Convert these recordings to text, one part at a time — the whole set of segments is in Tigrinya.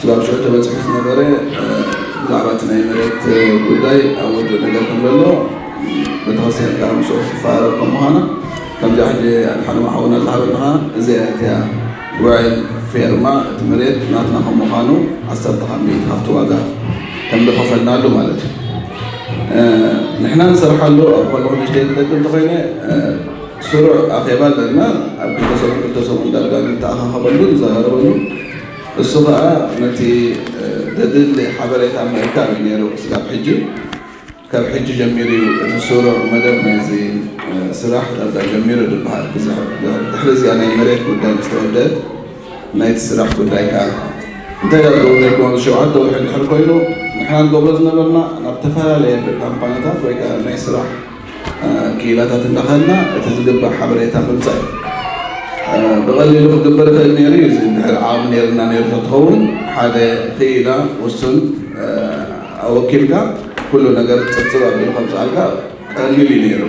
ዞባ ሽዑ ተበፂሑ ዝነበረ ብዛዕባ እቲ ናይ መሬት ጉዳይ ኣብ ወድእ ነገር ከም ዘሎ ቤተክርስትያን ጋር ምስኡ ክትፈራረብ ከም ምዃና ከምዚ ሕጂ ኣድሓኖም ሓውና ዝሃበልኻ እዚኣ እቲያ ውዕል ፌርማ እቲ መሬት ናትና ከም ምዃኑ ዓሰርተ ካብ ሚእቲ ካብቲ ዋጋ ከም ዝኸፈልናሉ ማለት እዩ ንሕና ንሰርሓሉ ኣብ ከለኹ ንሽተይ ዝደግም እንተኮይነ ስሩዕ ኣኼባ ኣለና ኣብ ክልተ ሰሙን ክልተ ሰሙን ዳርጋ ንተኣኻኸበሉ ንዘራረበሉ እሱ ከኣ ነቲ ዘድሊ ሓበሬታ ምእካብ እዩ ነይሩ እስካብ ሕጂ። ካብ ሕጂ ጀሚሩ እዩ እቲ ስሩዕ መደብ ናይዚ ስራሕ ዳርጋ ጀሚሩ ዝበሃል። ድሕሪ እዚኣ ናይ መሬት ጉዳይ ምስ ተወደአት ናይቲ ስራሕ ጉዳይ ከኣ እንታይ ዳርጋ ነይሩ ከማዚ ሸውዓተ ወርሒ እንድሕር ኮይኑ ንሕና ንገብሮ ዝነበርና ናብ ተፈላለየ ካምፓኒታት ወይ ከኣ ናይ ስራሕ ክኢላታት እናኸድና እቲ ዝግባእ ሓበሬታ ምምፃእ እዩ። ብቐሊሉ ክግበር ይኽእል ነይሩ እዩ። እዚ እንድሕር ዓቕሚ ነይርና ነይሩ ተትኸውን ሓደ ክኢላ ውሱን ኣወኪልካ ኩሉ ነገር ፅብፅብ ኣቢሉ ከምፅኣልካ ቀሊል እዩ ነይሩ።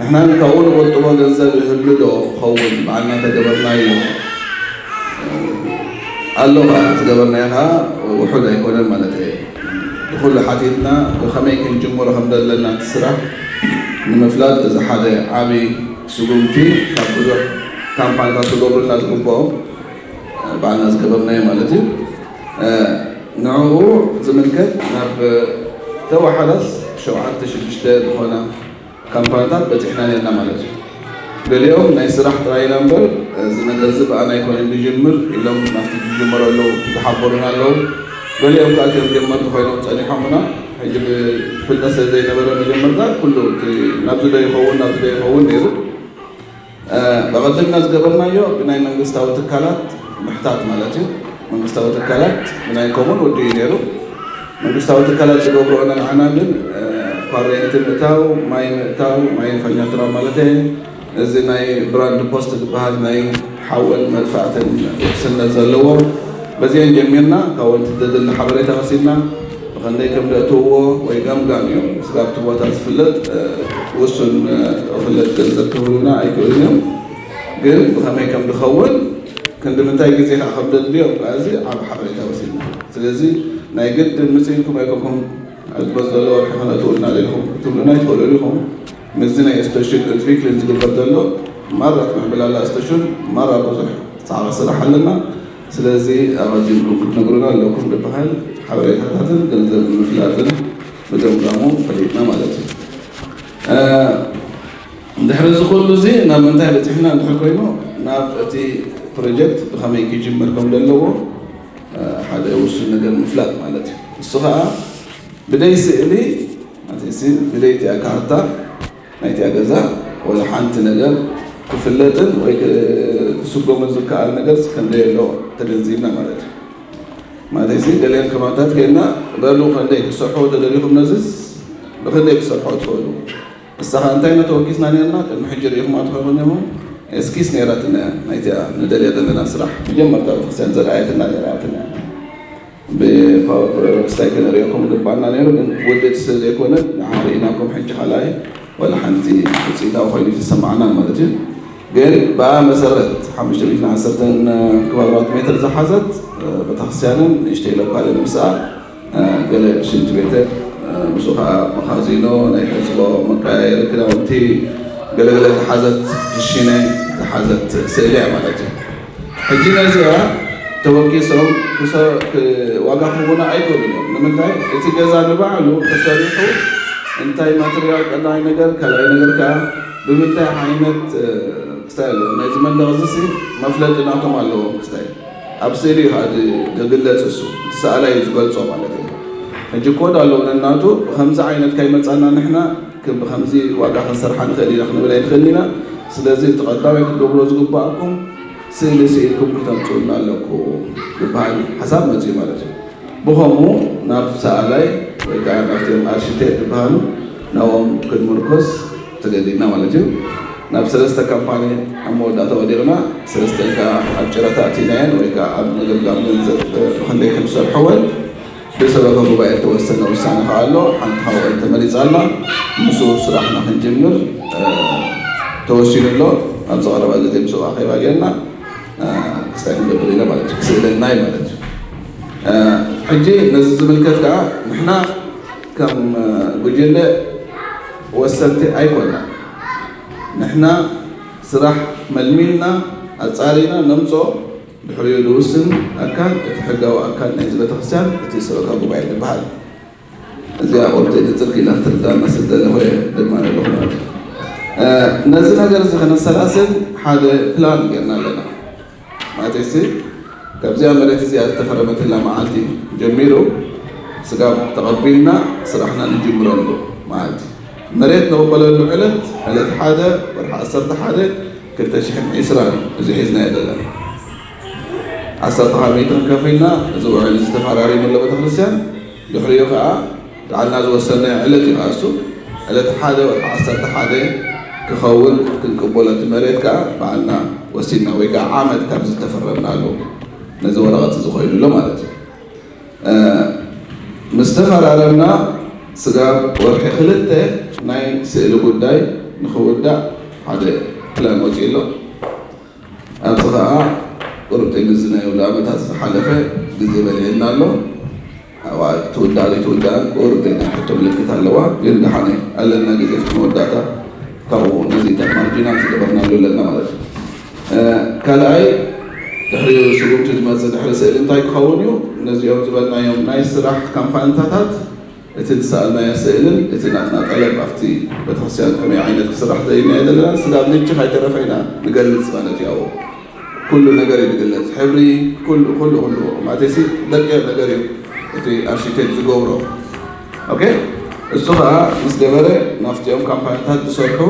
ንሕና ግን ካብኡ ንቑጥቦ ገንዘብ ይህሉ ዶ ኸውን ባዕልና ተገበርናዮ ኣሎ ከዓ እቲ ዝገበርናዮ ከዓ ውሑድ ኣይኮነን ማለት እየ። ንኹሉ ሓቲትና ብኸመይ ክንጅምሮ ከም ዘለና እቲ ስራሕ ንምፍላጥ እዚ ሓደ ዓቢ ስጉምቲ ካብ ብዙሕ ካምፓኒታት ክገብሩልና ዝግብኦም ባዕልና ዝገበርናዮ ማለት እዩ ንዕኡ ዝምልከት ናብ ተወሓዳስ ሸውዓተ ሽዱሽተ ዝኾና ካምፓንታት በጺሕና ኔርና ማለት እዩ። ገሊኦም ናይ ስራሕ ጥራይ ኢና እምበር እዚ ነገርዚ ብኣና ኣይኮነን ድጅምር ኢሎም ናብቲ ድጅምሮ እለው ዝሓበሩና ኣለው። ገሊኦም ከኣ እቲኦም ጀመርቲ ኮይኖም ጸኒሖምና ሕጂ ብፍልጠት ስለዘይነበረ መጀመርታ ኩሉ እቲ ናብዚ ዶ ይኸውን ናብዚ ዶ ይኸውን ኔሩ። በቐደምና ዝገበርናዮ ብናይ መንግስታዊ ትካላት ምሕታት ማለት እዩ። መንግስታዊ ትካላት ብናይ ኮሙን ወዲኡ እዩ ነይሩ። መንግስታዊ ትካላት ዝገብርኦ ንንዓና ግን ኳሬንቲ ምእታው፣ ማይ ምእታው፣ ማይ ፈኛትራ ማለተይ፣ እዚ ናይ ብራንድ ፖስት ዝበሃል ናይ ሓውን መጥፋእትን ውሕስነት ዘለዎ፣ በዚኤን ጀሚርና ካብኡ እቲ ዘድሊ ሓበሬታ ወሲድና፣ ብኸንደይ ከም ደእትውዎ ወይ ገምጋም እዩ። እስከ ኣብቲ ቦታ ዝፍለጥ ውሱን ቕፍለት ገንዘብ ክህቡና ኣይክእሉን እዮም። ግን ብኸመይ ከም ድኸውን ክንዲ ምንታይ ግዜ ከኣ ከም ደድልዮ እባ እዚ ዓቢ ሓበሬታ ወሲድና። ስለዚ ናይ ግድን ምጽእ ኢልኩም ኣይኮንኩም ኣብዚ መጽእ ዘሎ ወርሒ ከነእትውልና ደሊኹም ክትብሉና ኣይትኽእሉን ኢኹም። ምስዚ ናይ እስተሹን ኡትቪክልን ዝግበር ዘሎ ማራ ትምዕብላላ እስተሹን ማራ ብዙሕ ጻዕቒ ስራሕ ኣለና። ስለዚ ኣቐዲምኩም ክትነግሩና ኣለኩም ድበሃል ሓበሬታታትን ገንዘብ ንምፍላጥን ምገምጋሙ ፈሊጥና ማለት እዩ። ድሕሪ እዚ ኩሉ እዚ ናብ ምንታይ በጺሕና እንድሕር ኮይኑ ናብ እቲ ፕሮጀክት ብኸመይ ክጅምር ከም ዘለዎ ሓደ ውሱን ነገር ምፍላጥ ማለት እዩ። ንሱ ከኣ ብደይ ስእሊ ማለትሲ ብደይ እቲኣ ካርታ ናይታ ገዛ ወላ ሓንቲ ነገር ክፍለጥን ወይ ክስጎምን ዝከኣል ነገርስ ከምዘየሎ ተገንዚብና ማለት እዩ። ማለተይሲ ገሊኦም ከማታት ጌርና በሉ ከንደይ ክትሰርሕዎ ተደሊኹም ነዝስ ብክንደይ ክትሰርሕዎ ትኽእሉ እሳኻ እንታይ ኢና ተወኪስና ኔርና ቅድሚ ሕጂ ርኢኹማ ትኾይኹም ኔርኹም ኤስኪስ ኔራትና እያ ናይቲኣ ንደልያ ዘለና ስራሕ መጀመርታ ቤተክርስትያን ዘርኣየትና ነይራ ያትና እያ። ብፋውል ምስታይ ክንርእየኩም ግባእና ነይሩ ግን ውድድ ስለ ዘይኮነ ንዓ ርኢናኩም ሕጂ ካልኣይ ዋላ ሓንቲ ውጽኢታዊ ኮይኑ ኣይተሰማዓናን ማለት እዩ ግን ብኣ መሰረት ሓሙሽተ ሚእትን ዓሰርተን ክባብራት ሜትር ዝሓዘት ቤተክርስትያንን ንእሽተይ ሎካልን ምስኣ ገለ ሽንቲ ቤትን ምስኡ ከዓ መኻዚኖ ናይ ሕጽቦ መቀያየሪ ክዳውንቲ ገለገለ ዝሓዘት ክሽነ ዝሓዘት ስእሊ እያ ማለት እዩ ሕጂ ነዚኣ ተወኪሶም ዋጋ ክህቡና ኣይክእሉን እዮም። ንምንታይ እቲ ገዛ ንባዕሉ ተሰሪሑ እንታይ ማትርያል ቀዳማይ ነገር ካልኣይ ነገር ከዓ ብምንታይ ዓይነት ክስታይ ኣለዎ ናይዚ መንደቕ እዚ ሲ መፍለጢ ናቶም ኣለዎም ክስታይ ኣብ ስእሊ እዩ እቲ ዝግለፅ እሱ እቲ ሰኣላይ እዩ ዝገልፆ ማለት እዩ። ሕጂ ኮድ ኣለዎ ነናቱ ብከምዚ ዓይነት ካይመፃና ንሕና ግን ብኸምዚ ዋጋ ክንሰርሓ ንኽእል ኢና ክንብል ኣይንኽእልን ኢና። ስለዚ እቲ ቀዳማይ ክትገብርዎ ዝግበኣኩም ስእሊ ስኢልኩም ክተምጽኡልና ኣለኩም ዝበሃል ሓሳብ መጺኡ ማለት እዩ። ብኸምኡ ናብ ሰኣላይ ወይ ከኣ ናብቶም ኣርሺቴክ ዝበሃሉ ናብኦም ክንምርኮስ ተገዲድና ማለት እዩ። ናብ ሰለስተ ካምፓኒ ኣብ መወዳእታ ወዲቕና። ሰለስተን ከኣ ኣብ ጨረታ ኣእቲናየን ወይ ከኣ ኣብ ምግምጋም ገንዘብ ብኽንደይ ከም ዝሰርሕወን። ብሰበኸ ጉባኤ እተወሰነ ውሳነ ኸኣ ኣሎ። ሓንቲ ሓዋይ ተመሪጻ ኣላ፣ ምስኡ ስራሕና ክንጅምር ተወሲኑ ኣሎ። ኣብዚ ቐረባ ግዜ ምስኡ ኣኼባ ጌርና እስታይ ክንገብር ኢና ማለት እዩ፣ ክስእለና እዩ ማለት እዩ። ሕጂ ነዚ ዝምልከት ከኣ ንሕና ከም ጉጅለ ወሰንቲ ኣይኮናን። ንሕና ስራሕ መልሚልና ኣጻሪና ነምጽኦ፣ ድሕሪኡ ዝውስን ኣካል እቲ ሕጋዊ ኣካል ናይዚ ቤተክርስትያን እቲ ሰበካ ጉባኤ ዝብሃል እዚኣ ቆርፀይ ንፅል ክኢላ ክትርዳና ስለ ዘለኹ እየ ድማ ዘለኹ ማለት እዩ ነዚ ነገር እዚ ከነሰላስል ሓደ ፕላን ጌርና ኣለና ማለት ሲ ካብዚኣ መሬት እዚኣ ዝተፈረመትላ መዓልቲ ጀሚሩ ስጋብ ተቐቢልና ስራሕና ንጅምረሉ መዓልቲ መሬት ንቕበለሉ ዕለት ዕለት ሓደ ወርሒ ዓሰርተ ሓደ ክልተ ሽሕን ዒስራን እዩ እዚ ሒዝናዮ ዘለና ዓሰርተ ሓሚተን ከፊልና እዚ ውዕል እዚ ተፈራሪምሎ ቤተክርስትያን ድሕሪኡ ከዓ ባዕልና ዝወሰናዮ ዕለት እዩ እሱ ዕለት ሓደ ወርሒ ዓሰርተ ሓደ ክኸውን ክንቅበሎ እቲ መሬት ከዓ ባዕልና ወሲንና ወይ ከዓ ዓመት ካብ ዝተፈረምናሉ ነዚ ወረቐት እዚ ኮይኑሎ ማለት እዩ ምስ ተፈራረምና ስጋብ ወርሒ ክልተ ናይ ስእሊ ጉዳይ ንኽውዳእ ሓደ ፕላን ወፂኡ ኣሎ። ኣብዚ ኸዓ ቁርብተይ ምስዚ ናይ ኣውዳኣመታት ዝሓለፈ ግዜ በሊዑና ኣሎ። ኣብኣ ትውዳእ ዘይትውዳእን ቁርብተይ ናይ ሕቶ ምልክት ኣለዋ። ግን ደሓን እየ ኣለና ግዜ እስከ መወዳእታ ካብኡ ነዚ ማርጂናል ዝገበርናሉ ኣለና ማለት እዩ። ካልኣይ ድሕሪ ስጉምቲ ዝመፅእ ድሕሪ ስእሊ እንታይ ክኸውን እዩ? ነዚኦም ዝበልናዮም ናይ ስራሕ ካምፓንታታት እቲ ዝሰኣልናዮ ስእልን እቲ ናትና ጠለብ ኣብቲ ቤተክርስትያን ከመይ ዓይነት ክስራሕ ደሊናዮ ዘለና ስጋብ ሕጂ ካይተረፈ ኢና ንገልፅ ማለት እዩ። ኣብኡ ኩሉ ነገር እዩ ዝግለፅ ሕብሪ ኩሉ ኩሉ ኩሉ ማቴሲ ደቂቕ ነገር እዩ እቲ ኣርሽቴክት ዝገብሮ ኦኬ እሱ ከዓ ምስ ገበረ ናፍቲኦም ካምፓንታት ዝሰርሑ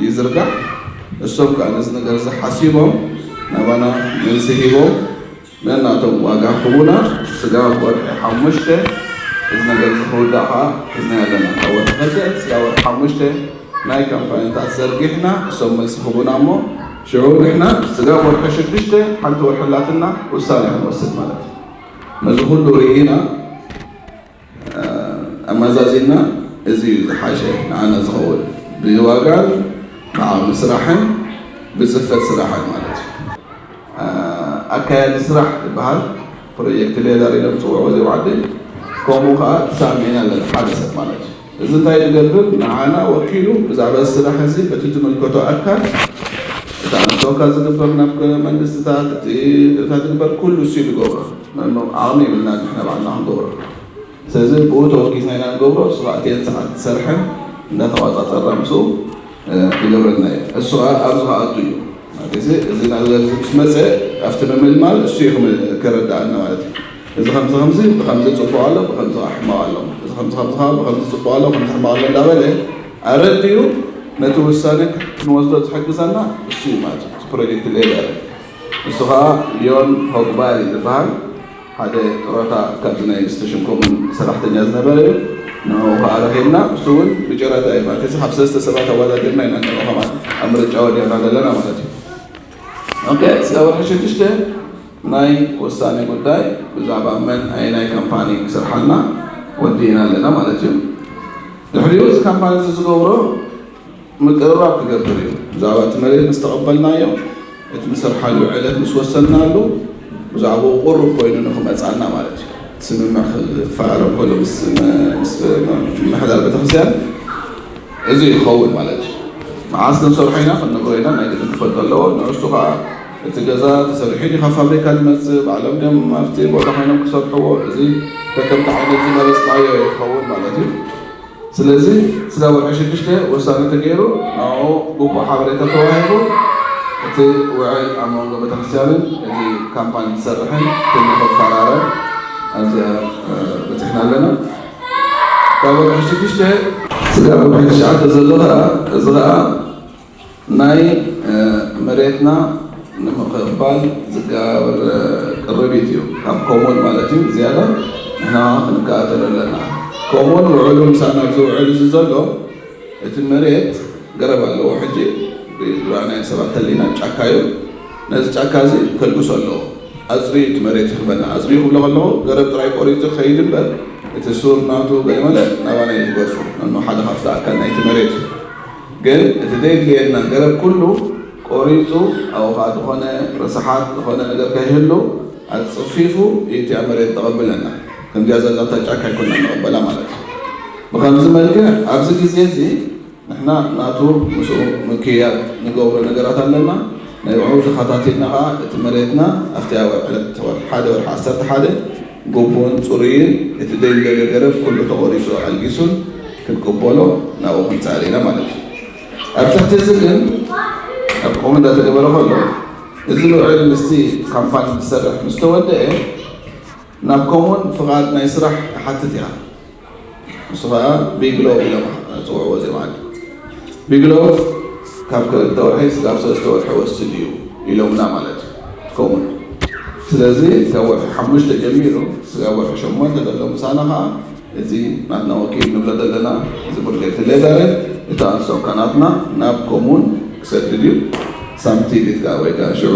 ይዝርጋሕ። እሶም ከኣ ነዚ ነገር እዚ ሓሲቦም ናባና መልሲ ሂቦም ነናቶም ዋጋ ኹቡና ስጋብ ወርሒ ሓሙሽተ እዚ ነገር እዚ ክውዳእ ከኣ ሒዝናዮ ኣለና ካብ ወርሒ ክልተ ስጋብ ወርሒ ሓሙሽተ ናይ ካምፓይንታት ዘርጊሕና እሶም መልሲ ኹቡና እሞ ሽዑ ንሕና ስጋብ ወርሒ ሽዱሽተ ሓንቲ ወርሒ ኣላትና ውሳኔ ክንወስድ ማለት እዩ ነዚ ኹሉ ሪኢና ኣማዛዚና እዚ እዩ ዝሓሸ ንዓና ዝኸውን ብዋጋን ካዓ ብስራሕን ብፅፈት ስራሕን ማለት እዩ። ኣካያዲ ስራሕ ዝባሃል ፕሮጀክት ሌዘር ኢሎም ዝፅውዕዎ እዚኦም ዓዲ ከምኡ ካዓ ተሳሚዕና ኣለና ሓደ ሰብ ማለት እዩ። እዚ እንታይ ይገብር ንዓና ወኪሉ ብዛዕባ እዚ ስራሕ እዚ እቲ ዝምልከቶ ኣካል እቲ ኣብ ዶካ ዝግበር ናብ መንግስትታት እቲ እታ ዝግበር ኩሉ ንሱ እዩ ዝገብሮ መኖ ዓቕሚ የብልና ንሕና ባዕልና ክንገብሮ ስለዚ ብኡ ተወኪስና ኢና ንገብሮ እሱ ከዓ እትየን ሰዓት ዝሰርሐ እንዳተቋፃፀርና ምስኡ ይገብረልና እዩ እሱ ከዓ ኣብዚ ከኣቱ እዩ ማለት እዚ እዚ ናብዚ ምስ መፀ ኣብቲ ምምልማል እሱ እዩ ከረዳኣና ማለት እዩ እዚ ከምዚ ከምዚ ብከምዚ ጽቡቅ ኣሎ ብከምዚ ከኣ ሕማቅ ኣሎ እዚ ከምዚ ከምዚ ከኣ ብከምዚ ጽቡቅ ኣሎ ከምዚ ሕማቅ ኣሎ እንዳበለ ኣረዲኡ ነቲ ውሳነ ክንወስዶ ዝሕግዘና እሱ እዩ ማለት እዩ እቲ ፕሮጀክት ሌበር እሱ ከኣ ዮን ሆግባይ ዝበሃል ሓደ ጥሮታ ካብዚ ናይ ስቴሽን ኮሙን ሰራሕተኛ ዝነበረ እዩ ንዕኡ ከኣ ረኪብና እሱ እውን ብጨረታ እዩ ማለት እዚ ካብ ሰለስተ ሰባት ኣወዳዲርና ኢና ንዕኡ ከማን ኣብ ምርጫ ወዲቅና ዘለና ማለት እዩ እዚ ወርሒ ሽዱሽተ ናይ ወሳኒ ጉዳይ ብዛዕባ መን ኣየናይ ካምፓኒ ክሰርሓልና ወዲእና ኣለና ማለት እዩ። ድሕሪኡ እዚ ካምፓኒ እዚ ዝገብሮ ምቅርራብ ክገብር እዩ። ብዛዕባ እቲ መሬት ምስ ተቐበልናዮ እቲ ንሰርሓሉ ዕለት ምስ ወሰንናሉ ብዛዕባኡ ቁሩብ ኮይኑ ንክመፅኣና ማለት እዩ ስምምዕ ክፈራረም ከሎ ምስ ምምሕዳር ቤተክርስትያን እዚ ክኸውን ማለት እዩ መዓስ ክንሰርሖ ኢና ክንነግሮ ኢና ናይ ግድን ክፈልጥ ኣለዎ ንእሽቱ ከኣ እቲ ገዛ ተሰሪሑ ድዩ ካብ ፋብሪካ ዝመጽእ ባዕሎም ድዮም ኣብቲ ቦታ ኮይኖም ክሰርሕዎ እዚ ከከምቲ ዓይነት ዝመረጽናዮ እዩ ክኸውን ማለት እዩ ስለዚ ስጋ ወርሒ ሽዱሽተ ወሳነ ተገይሩ ንዕኡ ግቡእ ሓበሬታ ተዋሂቡ እቲ ውዕል ኣብ መንጎ ቤተክርስትያንን እቲ ካምፓኒ ዝሰርሕን ኩሉ ክፈራረም ኣብዚኣ በጺሕና ኣለና ካብ ወርሒ ሽዱሽተ ስጋብ ወርሒ ትሽዓተ ዘሎ ከኣ እዚ ከኣ ናይ መሬትና ንምክፋል ዝጋበር ቅርቢት እዩ ካብ ኮሙን ማለት እዩ ዝያዳ ንሕና ክንከታተሎ ኣለና ኮሙን ውዕሉ ምሳና ኣብዚ ውዕል እዚ ዘሎ እቲ መሬት ገረብ ኣለዎ ሕጂ ብናይ ናይ ሰባት ህሊና ጫካ ዩ ነዚ ጫካ እዚ ከልግሶ ኣለዎ ኣጽርዩ እቲ መሬት ይህበና ኣጽርዩ ክብሎ ከለኹ ገረብ ጥራይ ቆሪጹ ከይድ እምበር እቲ ሱር ናቱ ገለመለ ናባና ዩ ዝገጹ ነኖ ሓደ ካብቲ ኣካል ናይቲ መሬት ዩ ግን እቲ ዘየድልየና ገረብ ኩሉ ቆሪጹ ኣብኡ ከዓ ዝኾነ ረሳሓት ዝኾነ ነገር ከይህሉ ኣጽፊፉ ዩ እቲ ኣብ መሬት ዘቐብለና ከምዚኣ ዘለታ ጫካ ኣይኮናን ንቕበላ ማለት እዩ። ብኸምዚ መልክዕ ኣብዚ ግዜ እዚ ንሕና ናቱ ምስኡ ምክይያድ ንገብሮ ነገራት ኣለና። ንዕኡ ተኸታቲልና ከኣ እቲ መሬትና ኣብቲ ኣብ ዕለት ወርሒ ሓደ ወርሒ ዓሰርተ ሓደ ግቡእን ጽሩይን እቲ ዘይንደልዮ ገረብ ኩሉ ተቖሪጹ ኣልጊሱን ክንቅበሎ ናብኡ ክንጽዕር ኢና ማለት እዩ። ኣብ ትሕቲ እዚ ግን ኣብ ከምኡ እንዳተገበረ ከሎ እዚ ውዕል ምስቲ ካምፓኒ ዝሰርሕ ምስ ተወደኤ ናብ ኮሙን ፍቓድ ናይ ስራሕ ትሓትት ኢኻ። ንሱ ኸኣ ቢግሎው ኢሎም ዝጽውዕዎ እዚ መኣዲ ቢግሎው ካብ ክልተ ወርሒ ስጋብ ሰለስተ ወርሒ ወስድ እዩ ኢሎምና ማለት እዩ ኮሙን። ስለዚ ካብ ወርሒ ሓሙሽተ ጀሚሩ ስጋብ ወርሒ ሸሞንተ ዘሎ ምሳና ኸኣ እዚ ናትና ወኪል ንብሎ ዘለና እዚ ቡርጌቲ ሌዳረ እቲ ኣንሶ ካናትና ናብ ኮሙን ክሰድድ እዩ ሳምቲ ቢትጋ ወይ ከኣ ሽዑ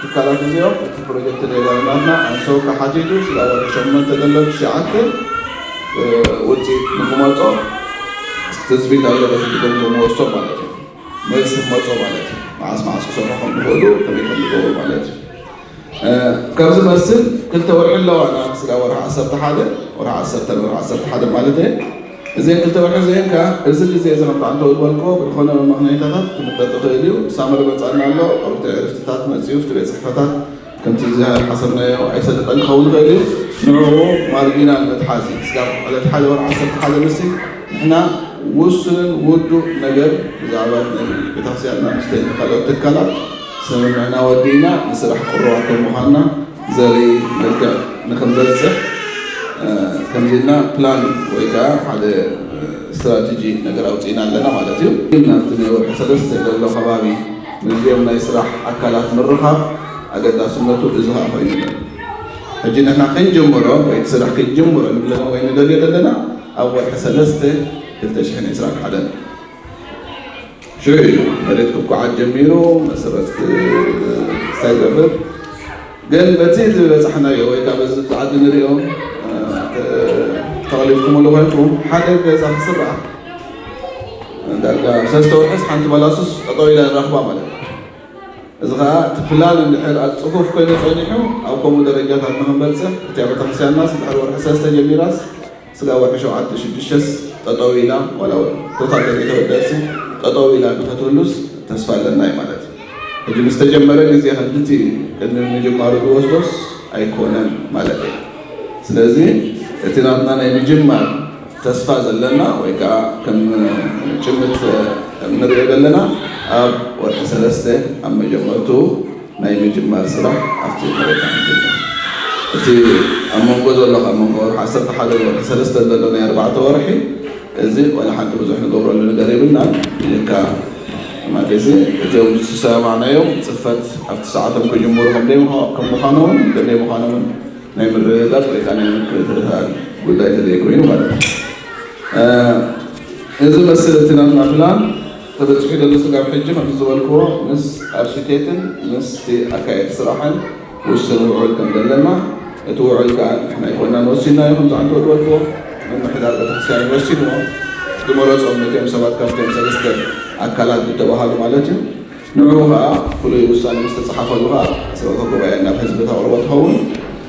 ትካላት እዚኦም እቲ ፕሮጀክት ሌላ ልማትና ኣንሰውካ ሓቲቱ ስለወደ ሸሞንተ ደሎ ትሽዓተ ውፅኢት ንክመፆ ትፅቢት ኣሎ በቲ ትገምገምዎ እስቶ ማለት እዩ መልሲ ክመፆ ማለት እዩ መዓስ መዓስ ክሰርሑ ከም ዝኽእሉ ከመይ ከም ዝገብሩ ማለት እዩ ካብ ዝመስል ክልተ ወርሒ ኣለዋና ስጋ ወርሒ ዓሰርተ ሓደ ወርሒ ዓሰርተ ወርሒ ዓሰርተ ሓደ ማለት እየ እዘን ክልተ ወርሒ እዚኤን ከኣ እዚ ግዜ እዚ ከምቲ ኣንተ ዝበልክዎ ብዝኾነ መመኽነይታታት ክምጠጥ ይኽእል እዩ ሳመር ይመጽኣና ኣሎ ወቕቲ ዕርፍትታት መጺኡ እቲ ቤት ጽሕፈታት ከምቲ ዝሓሰብናዮ ኣይሰልጠን ክኸውን ይኽእል እዩ ንዕኡ ማርጊናል መትሓዚ ስጋብ ዕለት ሓደ ወርሒ ዓሰርተ ሓደ ንሲ ንሕና ውሱንን ውዱእ ነገር ብዛዕባ ናይ ቤተክርስቲያንና ምስ ካልኦት ትካላት ስምምዕና ወዲእና ንስራሕ ቅሩባት ከም ምዃንና ዘርኢ መልክዕ ንክንበፅሕ ከምዚ ኢልና ፕላን ወይ ከዓ ሓደ ስትራቴጂ ነገር ኣውፂእና ኣለና ማለት እዩ። ናብቲ ናይ ወርሒ ሰለስተ ዘሎ ከባቢ ምስዚኦም ናይ ስራሕ ኣካላት ምርኻብ ኣገዳስነቱ እዚ ከዓ ኮይኑ ኣሎ። ሕጂ ንሕና ክንጅምሮ ወይ እቲ ስራሕ ክንጅምሮ ንብለኖ ወይ ንደልዮ ዘለና ኣብ ወርሒ ሰለስተ ክልተ ሽሕን ዕስራን ሓደን እዩ። ሽዑ እዩ መሬት ክኳዓት ጀሚሩ፣ መሰረት ክስታይ ይገብር። ግን በቲ ዝበፃሕናዮ ወይ ከዓ በዚ ኣብዚ ዓዲ ንሪኦ ተቐሊልኩምሉ ኮይንኩም ሓደ ገዛ ክስራሕ ዳርጋ ሰለስተ ወርሒስ ሓንቲ ባላሱስ ጠጠው ኢላ ንረኽባ ማለት እዩ። እዚ ከዓ እቲ ፕላን እንድሕር ኣብ ፅፉፍ ኮይኑ ፀኒሑ ኣብ ከምኡ ደረጃታት ንክንበፅሕ እቲኣ ቤተክርስትያንናስ ድሕሪ ወርሒ ሰለስተ ጀሚራስ ስጋብ ወርሒ ሸውዓተ ሽዱሽተስ ጠጠው ኢላ ዋላ እውን ቶታል ተዘይተወደኣትሲ ጠጠው ኢላ ንኸትህሉስ ተስፋ ኣለና እዩ ማለት እዩ። ሕጂ ምስ ተጀመረ ግዜ ከምቲቲ ቅድሚ ምጅማሩ ዝወስዶስ ኣይኮነን ማለት እዩ። ስለዚ እቲ ናትና ናይ ምጅማር ተስፋ ዘለና ወይ ከኣ ከም ጭምት እንርእዮ ዘለና ኣብ ወርሒ ሰለስተ ኣብ መጀመርትኡ ናይ ምጅማር ስራሕ ኣብቲ መሬት ኣይንጅምር። እቲ ኣብ መንጎ ዘሎ ካብ መንጎ ወርሒ ዓሰርተ ሓደ ወይ ወርሒ ሰለስተ ዘሎ ናይ ኣርባዕተ ወርሒ እዚ ዋላ ሓንቲ ብዙሕ ንገብረሉ ነገር የብልናን ብጀካ ማደሲ እቶም ዝሰሰማማዕናዮም ፅፈት ኣብቲ ሰዓቶም ክጅምሩ ከም ምዃኖምን ክንደይ ምዃኖምን ናይ ምርግጋፅ ወይ ከዓ ናይ ምክትታል ጉዳይ ተዘይኮይኑ ማለት እዩ። እዚ መስል እቲ ናትና ፕላን ተበጺሑ ዘሎ ስጋብ ሕጂ ከምቲ ዝበልክዎ ምስ ኣርሺቴትን ምስቲ ኣካየድቲ ስራሕን ውሱን ውዑል ከም ዘለና እቲ ውዑል ከኣ ንሕና ኣይኮናን ወሲንናዮ ከምዚ ኣንተ ዝበልክዎ ምምሕዳር ቤተክርስትያን እዩ ወሲንዎ ዝመረጾም ነቲኦም ሰባት ካብቲኦም ሰለስተ ኣካላት ዝተባሃሉ ማለት እዩ ንዑኡ ከኣ ፍሉይ ውሳነ ምስ ተጻሓፈሉ ከኣ ስርዕተ ጉባኤ ናብ ህዝቢ ተቅርቦ ትኸውን።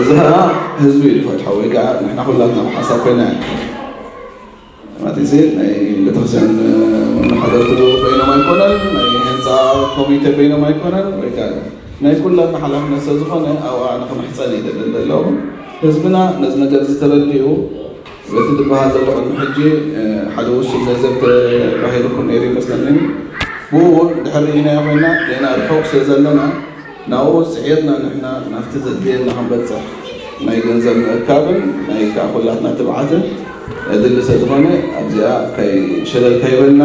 እዚ ከዓ ህዝቢ እዩ ዝፈትሖ ወይ ከዓ ንሕና ኩላትና ብሓሳብ ኮይና ማለትሴ ናይ ቤተክርስቲያን መመሓደርቲ ኮይኖም ኣይኮነን ናይ ህንፃ ኮሚቴ ኮይኖም ኣይኮነን ወይ ከዓ ናይ ኩላትና ሓላፍነት ስለዝኾነ ኣብኣ ንክምሕፀን ይደለ ዘለዉ ህዝብና ነዚ ነገር ዝተረድኡ እቲ ዝበሃል ዘሎ ቅድሚ ሕጂ ሓደ ውሱን ለዘብተ ተባሂሉ እኮ ነይሩ ይመስለኒ ብኡ እውን ድሕር ርኢናዮ ኮይና ገና ርሑቕ ስለ ዘለና ናብኡ ፅዒርና ንሕና ናብቲ ዘድልየና ክንበፅሕ ናይ ገንዘብ ምእካብን ናይ ከዓ ኩላትና ትብዓትን የድሊ ስለ ዝኾነ ኣብዚኣ ከይ ሸለል ከይበልና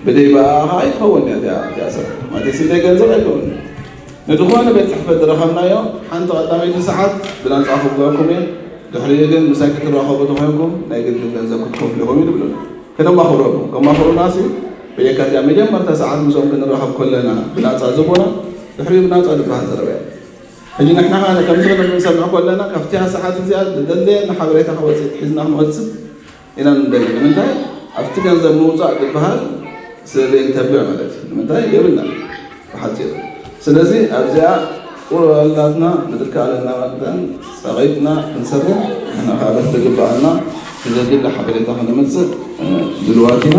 ብደይ ብኣኣ ከዓ ኣይትኸውንን እያ እቲኣ እቲኣ ስራሕ ማለተይ ስደይ ገንዘብ ኣይከውንን ንዝኾነ ቤት ጽሕፈት ዝረኸብናዮ ሓንቲ ቀዳመይቲ ሰዓት ብናጻ ክብለኩም እየ፣ ድሕሪኡ ግን ምሳይ ክትራኸቡ እንተኾይንኩም ናይ ግድን ገንዘብ ክትከፍሉ ኢኹም እዩ ዝብለና። ከነማኽረሉ ከማኽሩናሲ በየካቲኣ መጀመርታ ሰዓት ምስኦም ክንራኸብ ከለና ብናጻ ዝህቡና ድሕሪኡ ብናጻ ዝበሃል ዘረባ እዩ። ሕጂ ንሕና ከኣ ከምዚ ክንብል ክንሰምዕ ከለና ካብቲኣ ሰዓት እዚኣ ዘድልየና ሓበሬታ ክወጽእ ሒዝና ክንወጽእ ኢና ንደሊ ንምንታይ ኣብቲ ገንዘብ ምውፃእ ዝበሃል ስለዘይንተብዕ ማለት እዩ ንምንታይ የብልና ብሓፂሩ ስለዚ ኣብዚኣ ቁርበላትና ብዝከኣለና መጠን ፀቂጥና ክንሰርሕ ንሕና ከዓ በቲ ዝግበኣና ንዘድሊ ሓበሬታ ክንምፅእ ድልዋት ኢና